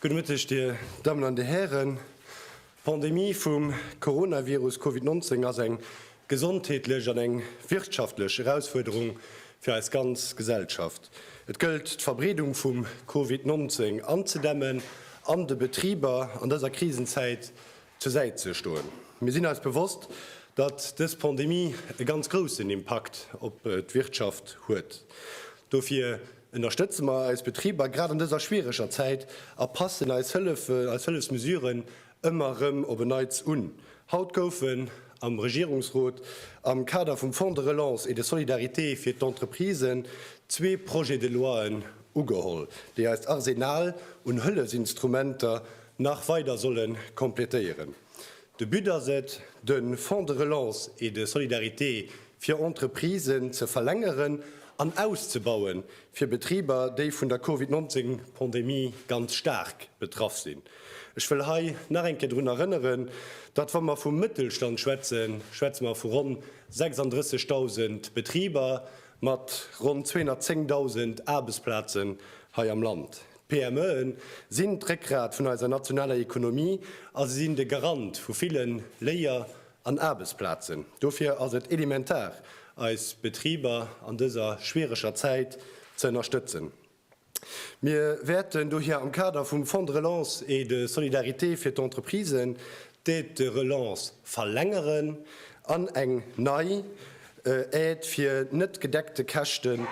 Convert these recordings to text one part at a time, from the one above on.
Gudde Mëtteg, Dir Dammen an Dir Hären. D'Pandemie vum Coronavirus Covid 19 ass eng gesondheetlech an eng wirtschaftlech Erausfuerderung fir eis ganz Gesellschaft. Et gëllt, d'Verbreedung vum Covid 19 anzedämmen an de Betriber an dëser Krisenzäit zur Säit ze stoen. Mir sinn eis bewosst, datt dës Pandemie e ganz groussen Impakt op d'Wirtschaft huet. Dofir Ënnerstëtze mer eis Betriber grad an dëser schwiereger Zäit a passen eis Hëllefen, eis Hëllefsmesuren ëmmer erëm op en Neits un. Haut goufen am Regierungsrot am Kader vum Fonds de relance et de solidarité fir d'Entreprisen zwee Projets de loien ugeholl, déi eist Arsenal un Hëllefsinstrumenter nach weider solle komplettéieren. De But ass et, de Fonds de relance et de solidarité fir Entreprisen ze verlängeren an auszebauen, fir Betriber, déi vun der Covid 19 Pandemie ganz staark betraff sinn. Ech wëll hei nach eng Kéier drun erënneren, datt, wa mer vum Mëttelstand schwätzen, schwätze mer vu ronn 36.000 Betriber mat ronn 210.000 Aarbechtsplazen hei am Land. D'PMEen sinn d'Réckgrat vun eiser nationaler Ekonomie a se sinn de Garant vu ville Léier an Aarbechtsplazen. Dofir ass et elementar, eis Betriber an dëser schwiereger Zäit ze ënnerstëtzen. Mir wäerten dohier am Kader vum Fonds de relance et de solidarité fir d'Entreprisen d'Aide de relance verlängeren an eng nei Aide fir net gedeckte Käschten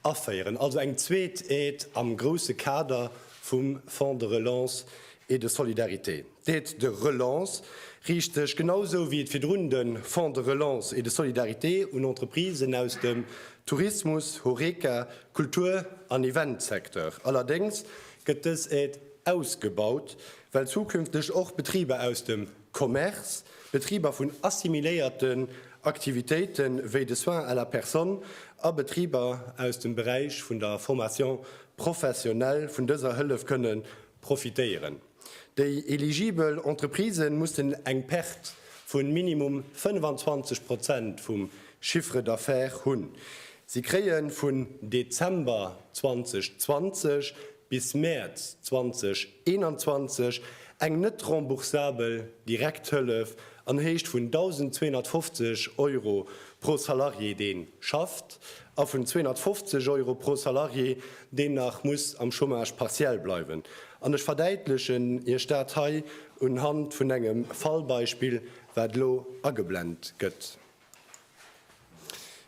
Aféieren, also eng zweet Aide am grousse Kader vum Fonds de relance et de solidarité. D'Aide de relance riicht sech, genau esou wéi et virdrun de Fonds de relance et de solidarité, un Entreprisen aus dem Tourismus, Horeca, Kultur an Eventsecteur. Allerdéngs gëtt dës Aide ausgebaut, well zukünfteg och Betriber aus dem Commerce, Betriber vun assimiléierten Aktivitéite wéi de Soins à la personne a Betriber aus dem Beräich vun der Formation professionnelle vun dëser Hëllef kënne profitéieren. Déi eligibel Entreprisë mussen eng Perte vu minimum 25 Prozent vum Chiffre d'affaires hunn. Si kréie vun Dezember 2020 bis Mäerz 2021 eng net remboursabel Direkthëllef an Héicht vun 1.250 Euro pro Salarié dee schafft a vun 250 Euro pro Salarié deen nach muss am Chômage partiel bleiwen. An ech verdäitlechen Iech dat hei unhand vun engem Fallbeispill wat elo ageblent gëtt.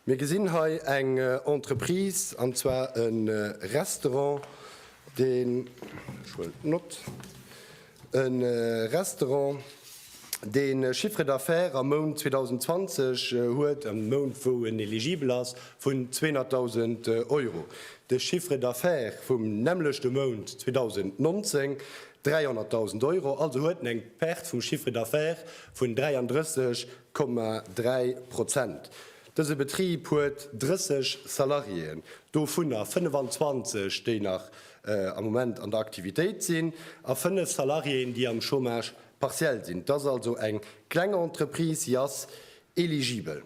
Mir gesinn hei eng Entreprise, an zwar e Restaurant, deen, ech huelen d'Nott, e Restaurant, dee Chiffre d'affaires am Mount 2020 huet, am Mount wou en eligibel ass, vun 200.000 Euro. De Chiffre d'affaires vum nämmlechte Mount 2019, 300.000 Euro. Also huet en eng Perte vum Chiffre d'affaires vun 33 Komma dräi Prozent. Dëse Betrib huet 30 Salariéen, dovunner 25, déi nach am Moment an der Aktivitéit sinn, a fënnef Salariéen, déi am Chômage partiel sinn. Et ass also eng kleng Entreprise, si ass eligibel.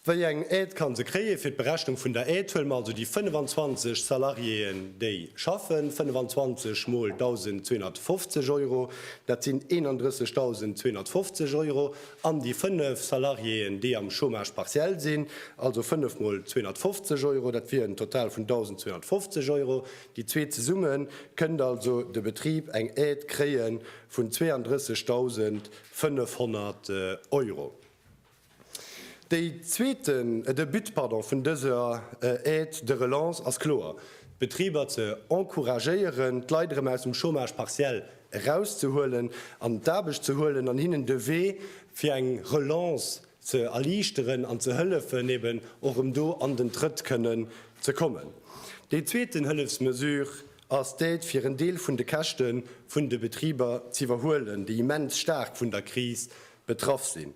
Wéi eng Aide kann se kréien? Fir d'Berechnung vun der Aide huele mer also déi 25 Salariéen, déi schaffen, 25 mol 1.250 Euro, dat sinn 31.250 Euro, an déi 5 Salariéen, déi am Chômage partiel sinn, also 5 mol 250 Euro, dat wier en Total vun 1.250 Euro. Déi zwee zesumme kënnt also de Betrib eng Aide kréie vun 32.000 500 Euro. Dee zweeten de But vun dëser Aide de relance ass kloer, d'Betriber ze encouragéieren, d'Leit erëm aus dem Chômage partiel erauszehuelen, an d'Aarbecht ze huelen an hinnen de Wee fir eng Relance ze erliichteren an ze hëllefen, eben och erëm do an den Trëtt kënnen ze kommen. Déi zweeten Hëllefsmesure ass d'Aide fir en Deel vun de Käschte vun de Betriber z'iwwerhuelen, déi immens staark vun der Kris betraff sinn.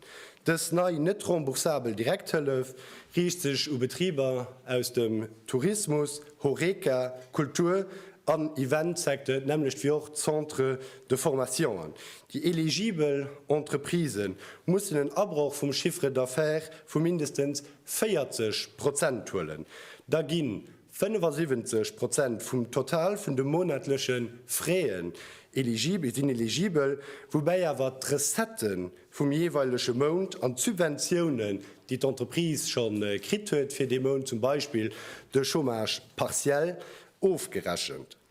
Dës nei net remboursabel Direkthëllef riicht sech u Betriber aus dem Tourismus, Horeca, Kultur an Event-Secteur, d'nämmlecht wéi och d'Centres de formationen. Déi eligibel Entreprisë mussen en Abroch vum Chiffre d'affaires vu mindestens 40 Prozent huelen, da ginn 75 Prozent vum Total vun de monatleche Fraisen sinn eligibel, woubäi awer d'Recettë vum jeeweilege Mount an d'Subventiounen, déi d'Entreprise scho kritt huet fir dee Mount, zum Beispill de Chômage partiel, ofgerechent.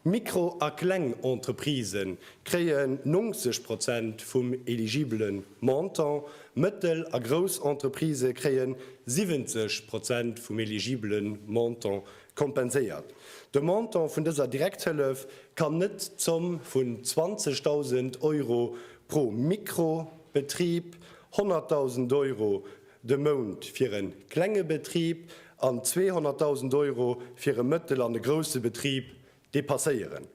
Mikro a kleng Entreprisë kréien 90 Prozent vum eligibele Montant, mëttel a grouss Entreprisë kréien 70 Prozent vum eligibele Montant kompenséiert. De Montant vun dëser Direkthëllef kann net d'Zomm vun 20.000 Euro pro Mikro-Betrib, 100.000 Euro de Mount fir e klenge Betrib an 200.000 Euro fir e mëttel an e grousse Betrib depasséieren.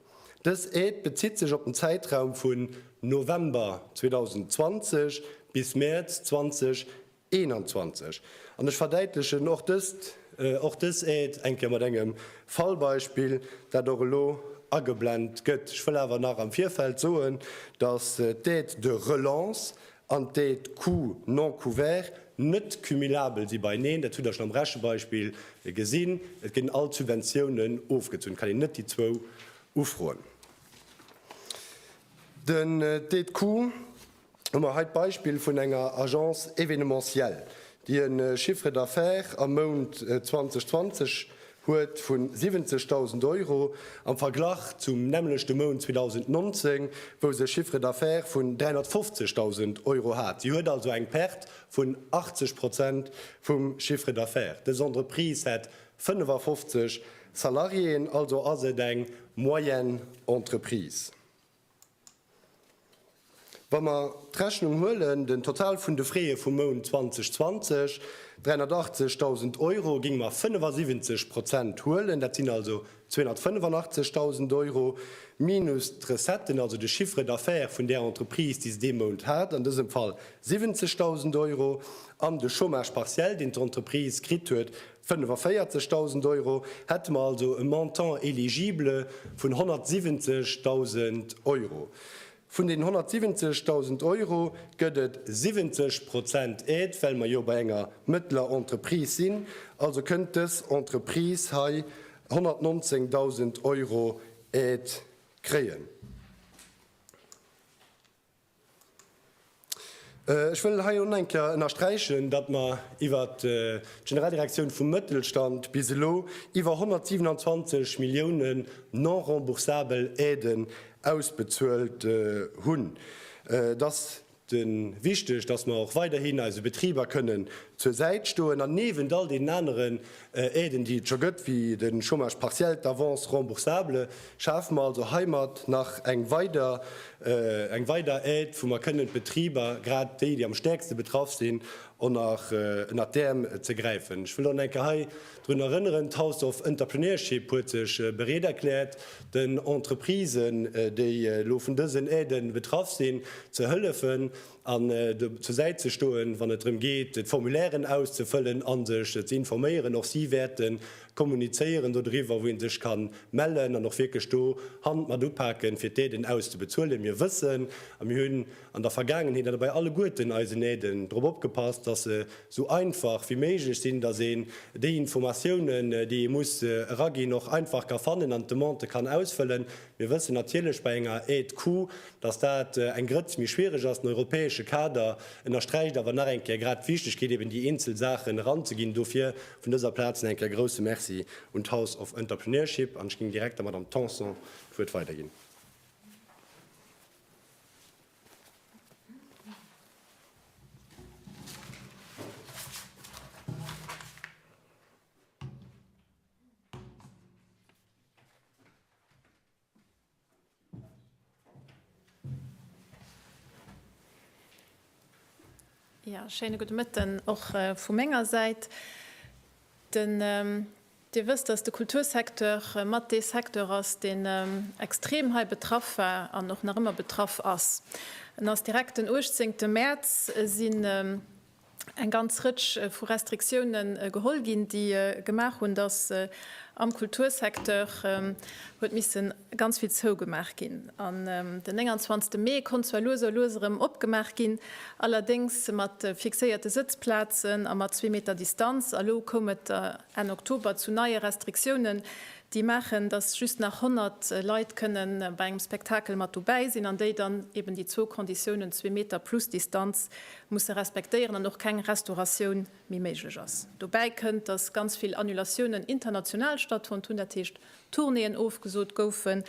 Dës Aide bezitt sech op den Zäitraum vun November 2020 bis Mäerz 2021. An ech verdäitlechen och dëst, och dës Aide eng Kéier mat engem Fallbeispill, dat och elo ageblent gëtt. Ech wëll awer nach am Virfeld soen, dass d'Aide de relance an déi d'Coût non couvert net cumulabel si beieneen, dat hutt Der schonn am Rechebeispill gesinn, et ginn all d'Subventiounen ofgezunn, et kann een net déi zwou ufroen. Den déi d'Coût hu mer hei d'Beispill vun enger Agence événementielle, déi e Chiffre d'affaires am Mount 2020 huet vun 70.000 Euro am Verglach zum nämmlechte Mount 2019, wou se e Chiffre d'affaires vun 350.000 Euro hat. Si huet also eng Perte vun 80 Prozent vum Chiffre d'affaires. Dës Entreprise hätt 55 Salariéen, also ass et eng Moyenne-Entreprise. Wa mer d'Rechnung huelen, den Total vun de Freeë vum Mount 2020, 380.000 Euro, géinge mer 75 Prozent huelen, dat sinn also 285.000 Euro, minus d'Recetten, also de Chiffre d'affaires vun där Entreprise, déi se dee Mount hat, an dësem Fall 70.000 Euro, an de Chômage partiel, deen d'Entreprise kritt huet, 45.000 Euro, hätte mer also e Montant éligible vun 170.000 Euro. Vun deenen 170.000 Euro gëtt et 70 Prozent Aide, well mer jo bei enger mëttlerer Entreprise sinn. Also kënnt dës Entreprise hei 119.000 Euro Aide kréien. Ech wëll hei och nach eng Kéier ënnersträichen, datt mer iwwert d'Generaldirektioun vum Mëttelstand bis elo iwwer 127 Millioune non-remboursabel Aiden ausbezuelt hunn. Et ass wichteg, datt mer och weiderhin eise Betriber kënnen zur Säit stoen an niewent all deenen aneren Aiden, déi et scho gëtt, wéi de Chômage partiel, d'Avance remboursable, schafe mer also heimat nach eng weider eng weider Aide, wou mer kënnen d'Betriber, grad déi, déi am stäerkste betraff sinn, onnert ënnert d'Äerm ze gräifen. Ech wëll och nach eng Kéier hei drun erënneren, d'House of Entrepreneurship huet sech bereet erkläert, den Entreprisen, déi elo vun dësen Aiden betraff sinn, ze hëllefen. an do zur Säit ze stoen, wann et drëm geet, d'Formulairen auszefëllen a sech ze informéieren. Och si wäerte kommunizéieren dodriwwer, wou ee sech ka mellen an och wierklech do Hand mat upaken, fir d'Aiden auszebezuelen. Mir wëssen a mir hunn an der Vergaangenheet an dobäi alleguerten eisen Aiden drop opgepasst, dass se esou einfach wéi méiglech sinn, dass een déi Informatiounen, déi ee muss eraginn, och einfach ka fannen an d'Demande kann ausfëllen. Mir wëssen natierlech bei enger Aide coût, dass dat eng Grëtz méi schwierig ass. Den europäesche Kader ënnersträicht awer nach eng Kéier grad d'Wichtigkeet, eben déi eenzel Saachen eranzeginn. Dofir vun dëser Plaz nach eng Kéier grouse Merci un d'House of Entrepreneurship. An ech géing direkt der Madame Tanson d'Wuert weiderginn. Ja, schéine gudde Mëtten och vu menger Säit. Dir wësst, datt de Kultursecteur mat dee Secteur ass, deen extrem hei betraff war an och nach ëmmer betraff ass. En ass direkt den 18 Mäerz sinn eng ganz Rëtsch vu Restriktioune geholl ginn, déi gemaach hunn, datt am Kultursecteur huet misse ganz vill zougemaach ginn. An den 29 Mee konnt zwar lues a lues erëm opgemaach ginn, allerdéngs mat fixéierte Sëtzplazen a mat zwee Meter Distanz. A lo koum et Enn Oktober zu neie Restriktiounen, déi maachen, datt just nach 100 Leit kënne bei engem Spektakel mat dobäi sinn, an déi dann eben déi zwou Konditiounen, zwee Meter plus Distanz, musse respektéieren an och keng Restauratioun méi méiglech ass. Dobäi kënnt, datt ganz vill Annulatiounen international stattfonnt hunn, dat heescht Tournéeën ofgesot goufen,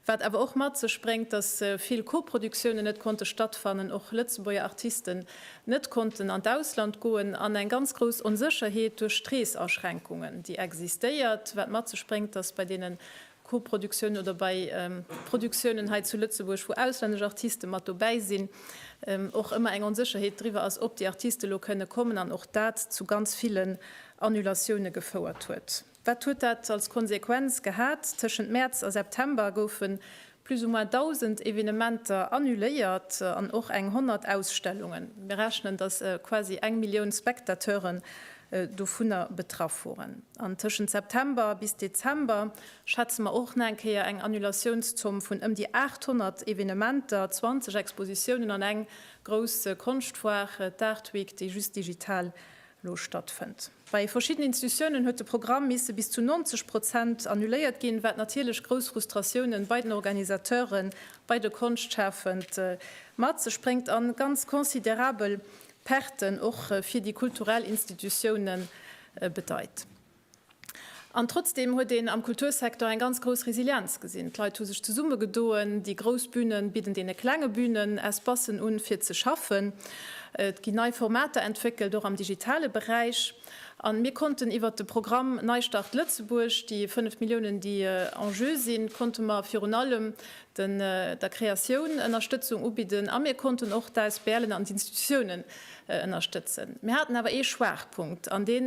wat awer och mat sech bréngt, datt vill Koproduktioune net konnte stattfannen, och Lëtzebuerger Artisten net konnten an d'Ausland goen an eng ganz grouss Onsécherheet duerch d'Reesaschränkungen, déi existéiert, wat mat sech bréngt, datt bei deene Koproduktiounen oder bei Produktiounen hei zu Lëtzebuerg, wou auslännesch Artiste mat dobäi sinn, och ëmmer eng Onsécherheet driwwer ass, ob déi Artiste elo kënne kommen an och dat zu ganz villen Annulatioune gefouert huet. Wat huet dat als Konsequenz gehat? Tëschent Mäerz a September goufe plus ou moins 1.000 Evenementer annuléiert an och eng 100 Ausstellungen. Mir rechnen, datt quasi eng Millioun Spectateuren dovunner betraff woren. An tëschent September bis Dezember schätze mer och nach eng Kéier eng Annulatiounszomm vun ëm déi 800 Evenementer, 20 Expositiounen an eng grouss Konschtfoire, d'Art Week, déi just digital elo stattfënnt. Bei verschiddenen Institutiounen huet de Programm misse bis zu 90 Prozent annuléiert ginn, wat natierlech grouss Frustratiounen bei den Organisateuren, bei de Konschtschafend mat sech bréngt an ganz considerabel Perten och fir déi kulturell Institutioune bedeit. An trotzdeem huet een am Kultursecteur eng ganz grouss Resilienz gesinn. D'Leit hu sech zesummegedoen, déi grouss Büne bidden deene klenge Bünen Espassen un, fir ze schaffen. Et ginn nei Formater entwéckelt, och am digitale Beräich. A mir konnten iwwert de Programm Neistart Lëtzebuerg, déi 5 Milliounen, déi en jeu sinn, konnte mer virun allem den der Kreatioun Ënnerstëtzung ubidden a mir konnten och d'ASBLen an d'Institutiounen ënnerstëtzen. Mir haten awer ee Schwaachpunkt an dee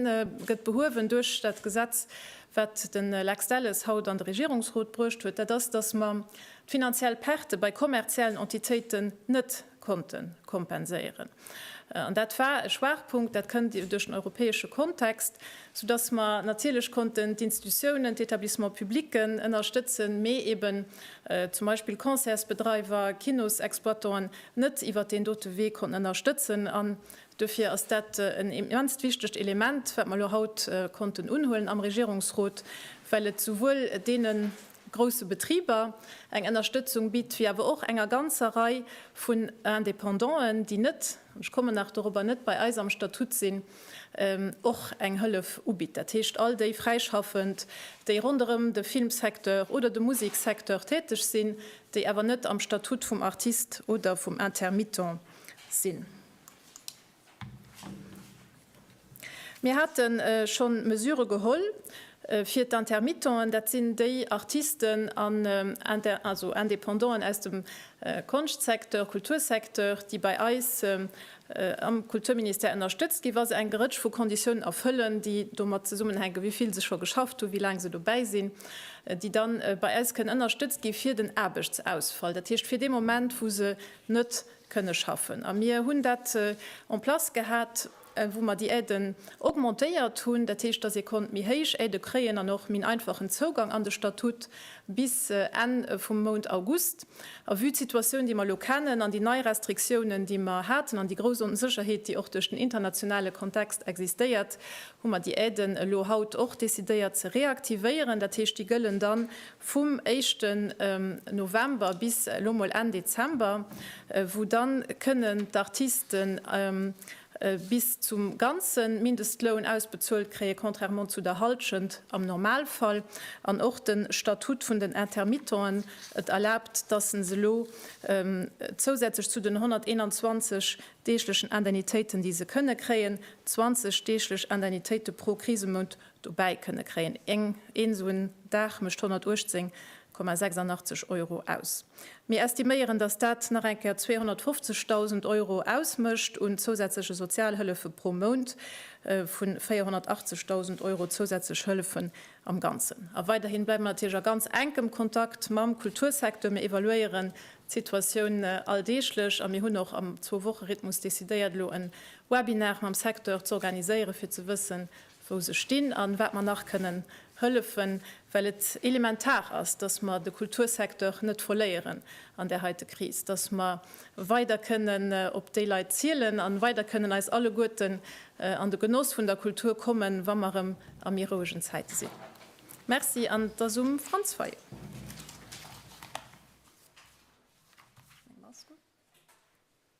gëtt behuewen duerch dat Gesetz, wat de Lex Delles haut an de Regierungsrot bruecht huet, dat ass, datt mer d'finanziell Perte bei kommerziellen Entitéiten net konnte kompenséieren. An dat war e Schwaachpunkt, dat kënnt duerch den europäesche Kontext, soudass mer natierlech konnten d'Institutionen, d'Etablissements publics ënnerstëtzen, mee eeben zum Beispill Concertsbedreiwer, Kinosexploitanten net iwwert deen dote Wee konnten ënnerstëtzen. An duerfir ass dat en immenst wichtegt Element, wat mer elo haut konnten unhuelen am Regierungsrot, well et souwuel deenen, grousse Betriber eng Ënnerstëtzung bitt, wéi awer och enger ganzer Rei vun Indépendanten, déi net, ech kommen nach dorobber, net bei eis am Statut sinn, och eng Hëllef ubitt. Dat heescht, all déi Fräischaffend, déi ronderëm de Filmsecteur oder de Museksecteur täteg sinn, déi awer net am Statut vum Artist oder vum Intermittent sinn. Mir hate schonn Mesure geholl fir d'Intermittenten, dat sinn déi Artisten an Independanten aus dem Konschtsecteur, Kultursecteur, déi bei eis am Kulturministère ënnerstëtzt ginn, wa se eng Rëtsch vu Konditiounen erfëllen, déi domat zesummenhänken, wéi vill se scho geschafft hunn, wéi laang se dobäi sinn, déi da bei eis kënnen ënnerstëtzt gi fir den Aarbechtsausfall, dat heescht fir dee Moment, wou se net kënne schaffen. A mir hunn dat en place gehat, wou mer déi Aiden augmentéiert hunn. Dat heescht, dass ee konnt méi héich Aide kréien an och méi en einfachen Zougang an de Statut bis Enn vum Mount August. A vue d'Situatioun, déi mer elo kennen, an déi nei Restriktiounen, déi mer haten, an déi grouss Onsécherheet, déi och duerch den internationale Kontext existéiert, hu mer déi Aiden elo haut och decidéiert ze reaktivéieren. Dat heescht, déi gëllen dann vum éischten November bis elo mol Enn Dezember, wou dann kënnen d'Artisten bis zum ganzen Mindestloun ausbezuelt kréien, contrairement zu der Halschent am Normalfall. An och den Statut vun den Intermittenten, et erlaabt, dass en se elo zousätzlech zu den 121 deeglechen Indemnitéiten, déi se kënnen kréien, 20 deeglech Indemnitéiten pro Krisemount Dobäi kënne kréien. Een esou en Dag mécht 118,86 Euro aus. Mir estiméieren, datt dat nach eng Kéier 250.000 Euro ausmécht un zousätzleche Sozialhëllefe pro Mount, vu 480.000 Euro zousätzlech Hëllefen am Ganzen. A weiderhi bleiwe mer natierlech a ganz enkem Kontakt mam Kultursecteur. Mir evaluéieren d'Situatioun alldeeglech a mir hunn och am Zwou-Woche-Rhythmus decidéiert, elo e Webinar mam Secteur z'organiséieren, fir ze wëssen, wou se stinn a wat mer nach kënnen hëllefen, well et elementar ass, dass mer de Kultursecteur net verléieren an där heite Kris, dass mer weider kënnen op déi Leit zielen a weider kënnen eis alleguerten an de Genoss vun der Kultur kommen, wa mer erëm a méi rouegen Zäite sinn. Merci an et ass um Franz Fayot.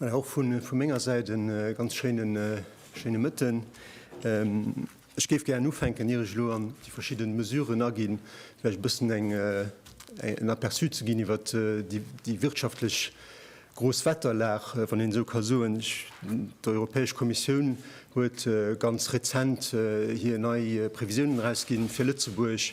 Voilà, och vu menger Säit e ganz schéine Mëtten. Ech géif gären ufänken, ier ech elo an déi verschidde Mesuren aginn, vläicht e bëssen en Aperçu ze ginn iwwert déi wirtschaftlech Grousswetterlag, wann een esou ka soen. D'Europäesch Kommissioun huet ganz rezent hir nei Previsiounen erausginn fir Lëtzebuerg.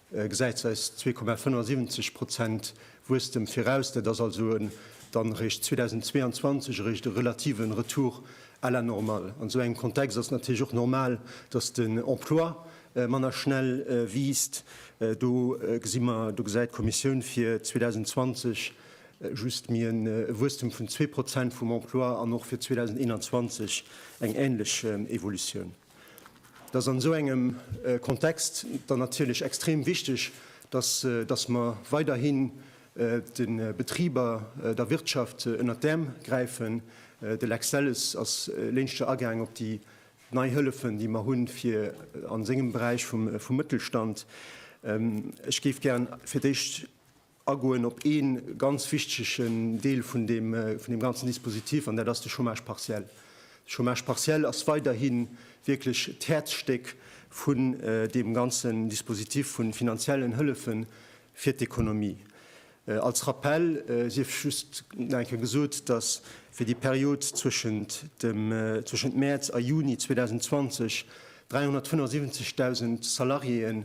gesäit säis 2,75 Prozent Wuesstem viraus. Dat ass also en dann eréischt 2022 eréischt e relative Retour à la normale. An esou engem Kontext ass et natierlech och normal, datt den Emploi manner schnell wiisst. Do gesi mer, do gesäit d'Kommissioun fir 2020 just méi e Wuesstem vun zwee Prozent vum Emploi an och fir 2021 eng änlech Evolutioun. dass an esou engem Kontext dann natierlech extrem wichteg, dass, dass mer weiderhin de Betriber, der Wirtschaft ënnert d'Äerm gräifen. De Lex Delles ass léinschter agaang op déi nei Hëllefen, déi mer hunn, fir a sengem Beräich vum Mëttelstand. Ech géif gär fir d'éischt. agoen op ee ganz wichtige Deel vun deem ganzen Dispositif, an dat ass de Chômage partiel. De Chômage partiel ass weiderhi wierklech d'Häerzstéck vun deem ganzen Dispositif vu finanziellen Hëllefe fir d'Ekonomie. Als Rappell sief just nach eng Kéier gesot, dass fir déi Period zwëschent Mäerz a Juni 2020 375.000 Salariéeën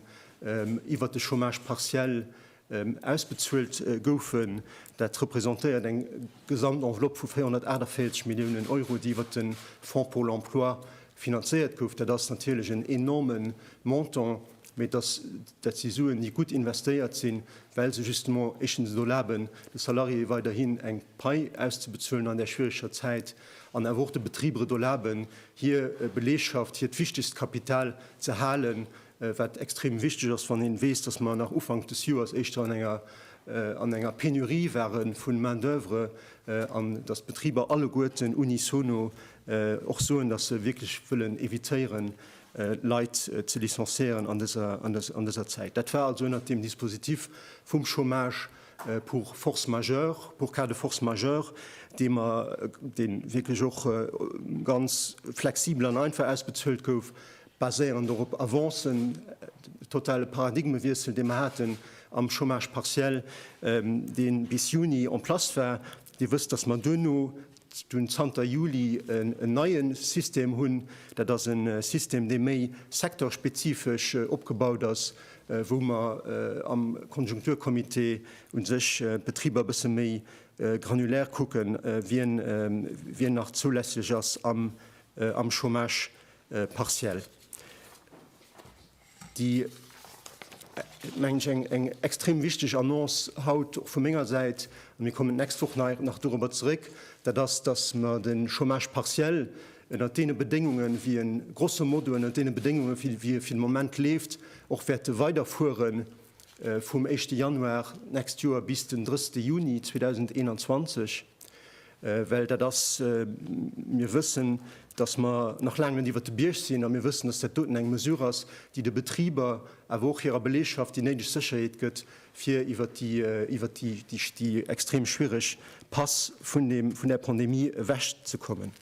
iwwert de Chômage partiel ausbezuelt goufen. Dat representéiert eng Gesamtenveloppe vu 448 Milliounen Euro, déi iwwer de Fonds pour l'emploi finanzéiert gouf. Dat ass natierlech en enorme Montant, mee dat si Suen, déi gutt investéiert sinn, well se justement éischtens et erlaben, de Salariéeë weiderhin eng Pai auszebezuelen an där schwiereger Zäit an awer och de Betriber et erlaben, hir Belegschaft, hiert wichtegst Kapital ze halen, wat extrem wichteg ass, wann een weess, dass mer nach Ufank des Joers éischter an enger an enger Pénurie ware vun Main d'oeuvre an dass d'Betriber alleguerten unisono och soen, dass se wierklech wëllen évitéieren, Leit ze licenciéieren an dëser an dëser Zäit. Dat war also ënnert dem Dispositif vum Chômage pour force majeure, pour cas de force majeure, dee mer dee wierklech och ganz flexibel an einfach ausbezuelt gouf, baséierend och op Avancen, de totale Paradigmewiessel, dee mer haten am Chômage partiel, dee bis Juni en place war. Dir wësst, dass mer duerno, dunn zanter Juli, en neie System hunn. Dat ass e System, dee méi secteurspezifesch opgebaut ass, wou mer am Konjunkturcomité u sech d'Betriber e bësse méi granulär kucken, wien nach zoulässlech ass am Chômage partiell, déi, mengen ech, eng extrem wichteg Annonce haut och vu menger Säit, an mir kommen d'nächst Woch nach dorobber zeréck, dat ass, datt mer de Chômage partiel ënnert deene Bedéngungen, wéi e grosso modo ënnert deene Bedéngungen, wéi e fir de Moment leeft, och wäerte weiderfuere vum éischte Januar d'nächst Joer bis den 30 Juni 2021. Well dat ass, mir wëssen, dass mer nach laang net iwwert de Bierg sinn, a mir wëssen, dass dat doten eng Mesure ass, déi de Betriber, awer och hirer Belegschaft déi néideg Sécherheet gëtt, fir iwwert déi, iwwert déi, déi extrem schwierig Pass vun deem, vun där Pandemie ewechzekommen.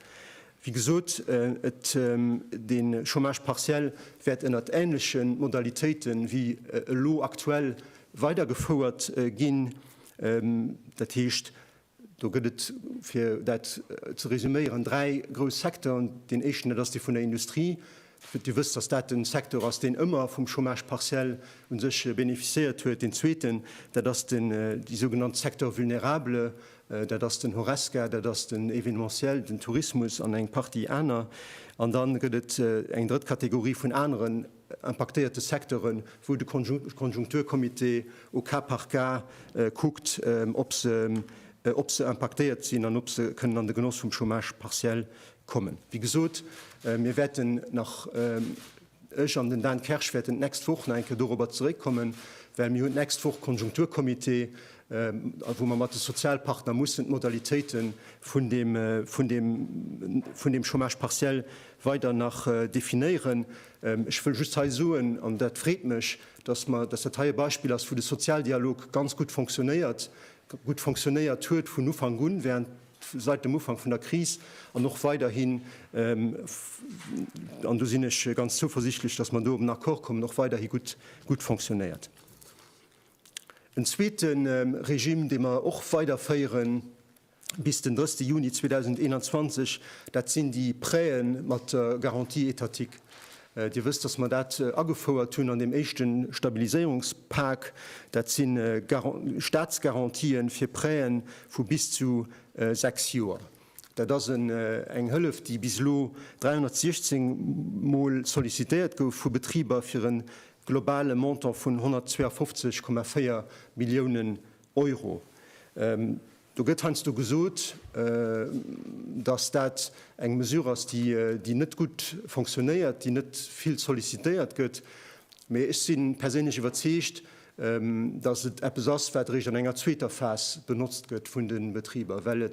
Wéi gesot, et, de Chômage partiel wäert ënnert ähnleche Modalitéite wéi elo aktuell weidergefouert ginn. Dat heescht, Do gëtt et, fir dat ze resuméieren, dräi grouss Secteuren. Deen éischten, dat ass dee vun der Industrie. Dir wësst, dass dat den Secteur ass, deen ëmmer vum Chômage partiel u sech beneficiéiert huet. Deen zweeten, dat ass den, déi sougenannt Secteurs vulnérables, dat ass den Horesca, dat ass den Événementiel, den Tourismus an eng Partie aner. An da gëtt et eng drëtt Kategorie vun aneren. impaktéierte Secteuren, wou de Konjunkturcomité au cas par cas kuckt, ob se impaktéiert sinn an ob se kënnen an de Genoss vum Chômage partiel kommen. Wéi gesot, mir wäerten nach, ech an den Dan Kersch wäerten d'nächst Woch nach eng Kéier dorobber zeréckkommen, well mir hunn d'nächst Woch Konjunkturcomité, wou mer mat de Sozialpartner mussen d'Modalitéite vun deem Chômage partiel weider nach definéieren. Ech wëll just hei soen, an dat freet mech, dass mer, dass dat hei e Beispill ass, wou de Sozialdialog ganz gutt fonctionnéiert, gutt fonctionnéiert huet vun Ufank un, während, seit dem Ufank vun der Kris an och weiderhin, an do sinn ech ganz zouversichtlech, dass mer do op en Accord kommen, och weiderhi gutt, gutt fonctionnéiert. En zweete Regime, dee mer och weiderféieren, bis den 30 Juni 2021, dat sinn déi Prêtë mat der Garantie étatique. Dir wësst, dass mer dat agefouert hunn an deem éischte Stabiliséierungspak. Dat si Statsgarantien fir Prêtë vu bis zu sechs Joer. Dat ass eng Hëllef, déi bis elo 316 Mol sollicitéiert gouf vu Betriber fir e globale Montant vun 152,4 Milliounen Euro. Do gëtt heiansdo gesot, dass dat eng Mesure ass, déi net gutt fonctionnéiert, déi net vill sollicitéiert gëtt. Mee ech si perséinlech iwwerzeegt, dass et eppes ass, wat eréischt an enger zweeter Phas benotzt gëtt vun de Betriber, well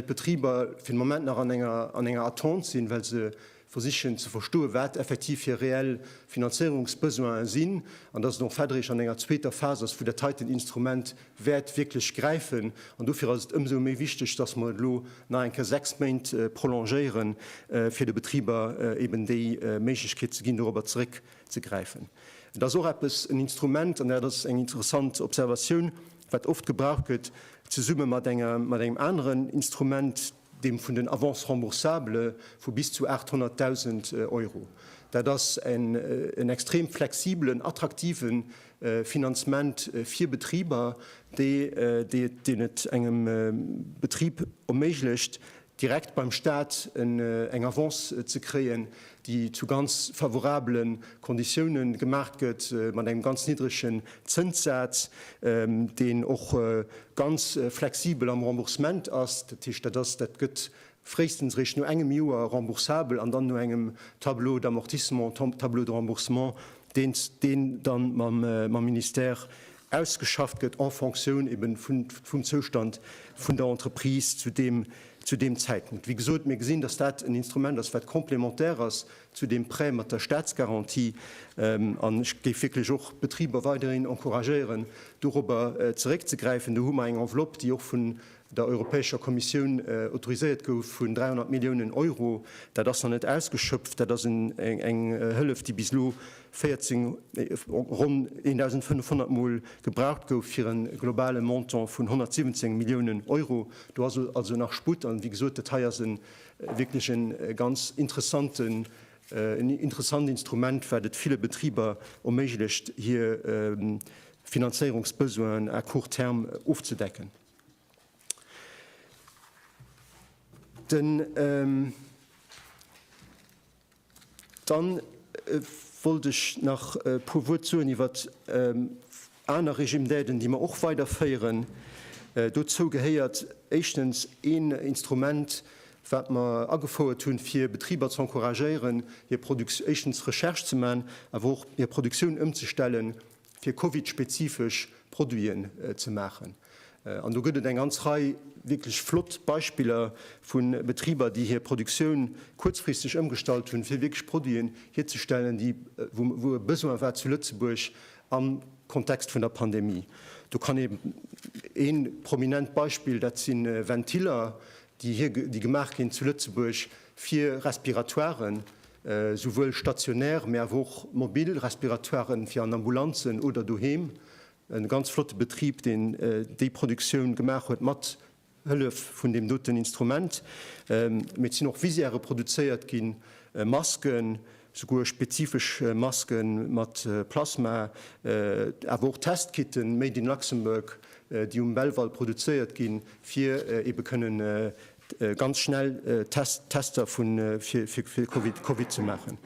d'Betriber fir de Moment nach an enger Attente sinn, well se versichen ze verstoen, wat effektiv hir reell Finanzéierungsbesoinen sinn an dass et och fäddereg an enger zweeter Phas ass, wou dat heiten Instrument wäert wierklech gräifen. An dofir ass et ëmsou méi wichteg, dass mer et elo nach eng Kéier sechs Méint prolongéieren, fir de Betriber eben déi Méiglechkeet ze ginn, dorobber zeréckzegräifen. Et ass och eppes, en Instrument, an dat ass eng interessant Observatioun, wat oft gebraucht gëtt zesumme mat engem aneren Instrument, deem vun den Avances remboursables vu bis zu 800.000 Euro. Dat ass en extrem flexibelen, attraktive Finanzement fir Betriber, deen et engem Betrib erméiglecht, direkt beim Staat eng Avance ze kréien, déi zu ganz favorabele Konditioune gemaach gëtt, mat engem ganz niddregen Zënssaz, deen och ganz flexibel am Remboursement ass. Dat heescht, dat ass, dat gëtt fréistens eréischt no engem Joer remboursabel an dann no engem Tableau d'amortissement, Tableau de remboursement, deen dann mam Ministère ausgeschafft gëtt en Fonctioun eben vum Zoustand vun der Entreprise zu deem, zu deem Zäitpunkt. Wéi gesot, mir gesinn, dass dat en Instrument ass, wat complémentaire ass zu deem Prêt mat der Statsgarantie. An ech géif wierklech och d'Betriber weiderhin encouragéieren, dorobber zeréckzegräifen. Do hu mer eng Enveloppe, déi och vun der Europäescher Kommissioun autoriséiert gouf vun 300 Milliounen Euro. Dat ass nach net ausgeschöpft. Dat ass eng Hëllef, déi bis elo 14, ronn 1.500 Mol gebraucht gouf, fir e globale Montant vun 117 Milliounen Euro. Do ass also nach Sputt. An, wéi gesot, dat hei ass wierklech e ganz interessant Instrument, wat et ville Betriber erméiglecht, hir Finanzéierungsbesoinen à court terme ofzedecken. Den, ähm, dann wollt ech nach e puer Wuert soen iwwer aner Régime d'aiden, déi mer och weiderféieren. Dozou gehéiert éischtens een Instrument, wat mer agefouert hunn, fir Betriber ze encouragéieren, hir Produktioun, éischtens Recherche ze maachen, awer och hir Produktioun ëmzestellen fir Covid-spezifesch Produiten ze maachen. An do gëtt et eng ganz Rei wierklech flott Beispiller vu Betriber, déi hir Produktioun kuerzfristeg ëmgestallt hunn, fir wierklech Produiten hierzestellen, déi, wou, wou e Besoin war zu Lëtzebuerg am Kontext vun der Pandemie. Do kann ee prominent Beispill, dat si Ventiller, déi hir, déi gemaach ginn zu Lëtzebuerg fir Respiratoiren, souwuel stationär, mee awer och mobil Respiratoiren fir an Ambulanzen oder doheem, e ganz flotte Betrib, deen déi Produktioun gemaach huet mat Hëllef vun deem doten Instrument, mee et sinn och Visiere produzéiert ginn, Masken. Souguer spezifesch Maske mat Plasma, awer och Testkitten made in Luxembourg, déi um Belval produzéiert ginn, fir ebe kënnen ganz schnell Tester fir Covid ze maachen.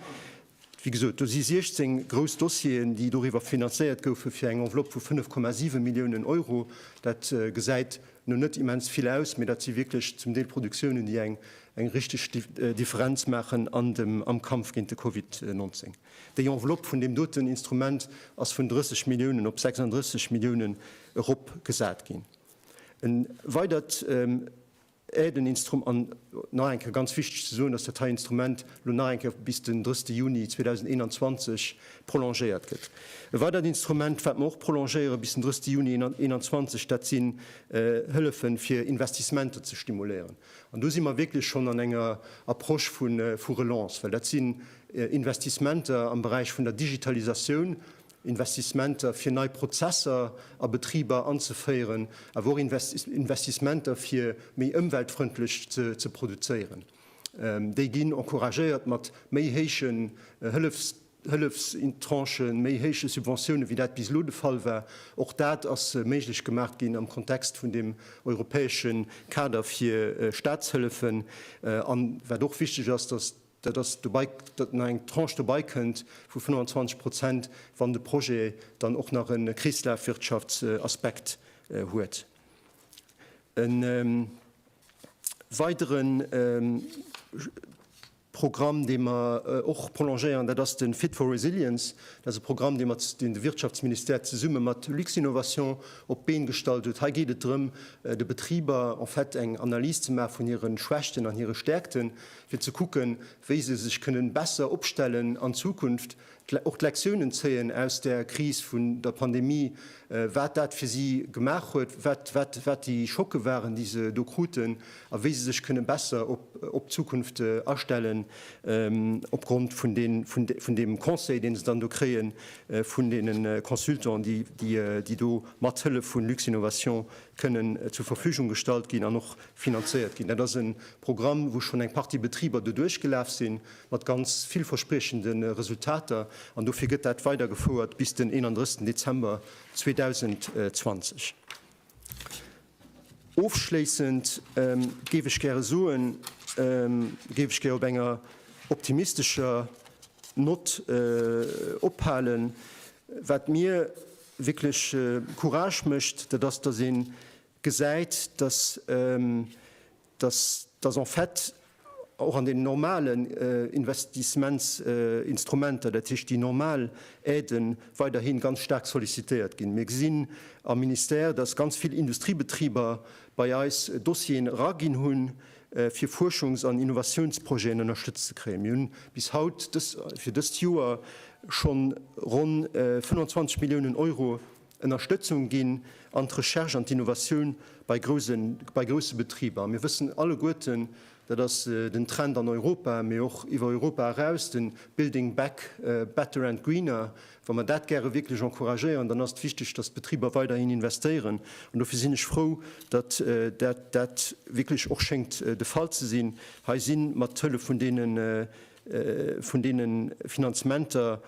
Wéi gesot, do si 16 grouss Dossieren, déi doriwwer finanzéiert goufen, fir eng Enveloppe vu 5,7 Milliounen Euro. Dat gesäit no net immens vill aus, mee dat si wierklech zum Deel Produktiounen, déi eng eng richteg Differenz maachen an dem am Kampf géint de Covid 19. Déi Enveloppe vun deem doten Instrument ass vun 30 Milliounen op 36 Milliounen eropgesat ginn. E weidert Aiden instrum an nach eng Kéier ganz wichteg ze soen, dass dat hei Instrument elo nach eng Kéier bis den 30 Juni 2021 prolongéiert gëtt. E weidert Instrument, wat mer och prolongéiere bis den 30 Juni 2021, dat sinn Hëllefe fir Investissementer ze stimuléieren. An do si mer wierklech schonn an enger Approche vu Relance, well dat sinn Investissementer am Beräich vun der Digitalisatioun, Investissementer fir nei Prozesser a Betriber anzeféieren, awer och Investissementer fir méi ëmweltfrëndlech ze produzéieren. Déi ginn encouragéiert mat méi héiche Hëllefstranchen, méi héiche Subventiounen, wéi dat bis elo de Fall war. Och dat ass méiglech gemaach ginn am Kontext vun deem europäesche Kader fir Staatshëllefen. An wat och wichteg ass, datt dat ass dobei, datt nach eng Tranche dobei kënnt vu 25 Prozent, wann de Projet dann och nach e Kreeslafwirtschaftsaspekt huet. Weidere Programm, dee mer och prolongéieren, dat ass de Fit for Resilience. Dat ass e Programm, deen de Wirtschaftsministère zesumme mat Luxinnovation op d'Been gestallt huet. Hei geet et drëm, de Betriber en fait eng Analys ze maachen vun hire Schwächten an hire Stäerkten, fir ze kucken, wéi se sech kënnen besser opstellen an Zukunft. Och d'Lektiounen zéien aus der Kris vun der Pandemie, wat dat fir si gemaach huet, wat déi Schocke waren, déi se do kruten a wéi se sech kënne besser op d'Zukunft astellen, opgrond vun deem Conseil, dee se dann do kréie vun deene Consultants, déi do mat Hëllef vu Luxinnovation kënnen zur Verfügung gestallt ginn an och finanzéiert ginn. Dat ass e Programm, wou schonn eng Partie Betriber doduerch gelaf sinn, mat ganz villverspriechende Resultater, an dofir gëtt dat weidergefouert bis den 31 Dezember 2020. Ofschléissend géif ech gäre soen, géif ech gär op enger optimistescher Nott ophalen. Wat mir wierklech Courage mécht, dat ass, dass ee gesäit, dass dass en fait och an den normalen Investissementsinstrumenter, dat heescht déi normal Aiden, weiderhi ganz staark sollicitéiert ginn. Mir gesinn am Ministère, dass ganz vill Industriebetriber bei eis Dossieren eraginn hunn, fir Fuerschungs an Innovatiounsprojeten ënnerstëtzt ze kréien. Mir hu bis haut fir dëst Joer schonn ronn 25 Milliounen Euro, Ënnerstëtzung ginn an d'Recherche an d'Innovatioun bei grousse Betriber. Mir wëssen alleguerten, dat ass den Trend an Europa, mee och iwwer Europa eraus, de Building back better and greener, wa mer dat gäre wierklech encouragéieren, dann ass et wichteg, datt d'Betriber weiderhin investéieren. An dofir sinn ech frou, datt dat wierklech och schéngt de Fall ze sinn. Hei si mat Hëllef vun deene Finanzementer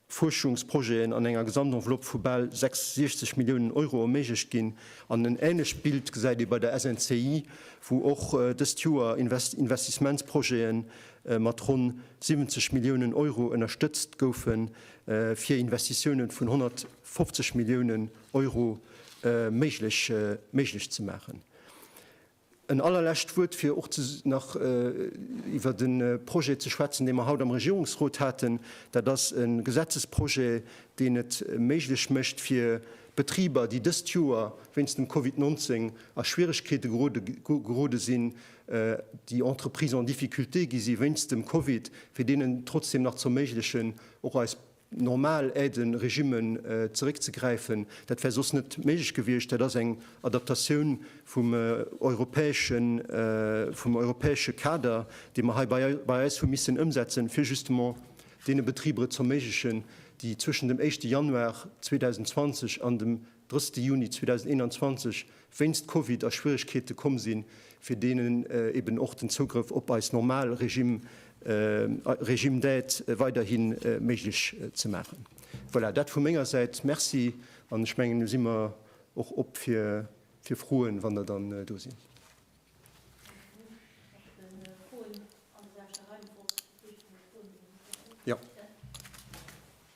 Fuerschungsprojeten an enger Gesamtenveloppe vu bal 66 Milliounen Euro erméiglecht ginn. An en änlecht Bild gesäit ee bei der SNCI, wou och dëst Joer Investissementsprojete mat ronn 70 Milliounen Euro ënnerstëtzt goufen, fir Investitiounen vun 150 Milliounen Euro méiglech ze maachen. En allerlescht Wuert, fir och nach iwwert de Projet ze schwätzen, dee mer haut am Regierungsrot haten. Dat ass e Gesetzesprojet, deen et méiglech mécht fir Betriber, déi dëst Joer wéinst dem Covid 19 a Schwieregkeete gerode sinn, déi Entreprises en difficulté gi si wéinst dem Covid, fir deenen trotzdem nach z'erméiglechen, och eis normal Aide-Regime zeréckzegräifen. Dat wär soss net méiglech gewiescht. Dat ass eng Adaptatioun vum europäesche Kader, dee mer hei bei eis hu missen ëmsetzen, fir justement deene Betriber et z'erméiglechen, déi zwëschen dem éischte Januar 2020 an dem 30 Juni 2021 wéinst Covid a Schwieregkeete komm sinn, fir deenen eben och den Zougrëff op eis normal Regime, Régime d'aide, weiderhi méiglech ze maachen. Voilà, dat vu menger Säit. Merci. An ech mengen, elo si mer och op fir Froen, wann der dann do sinn.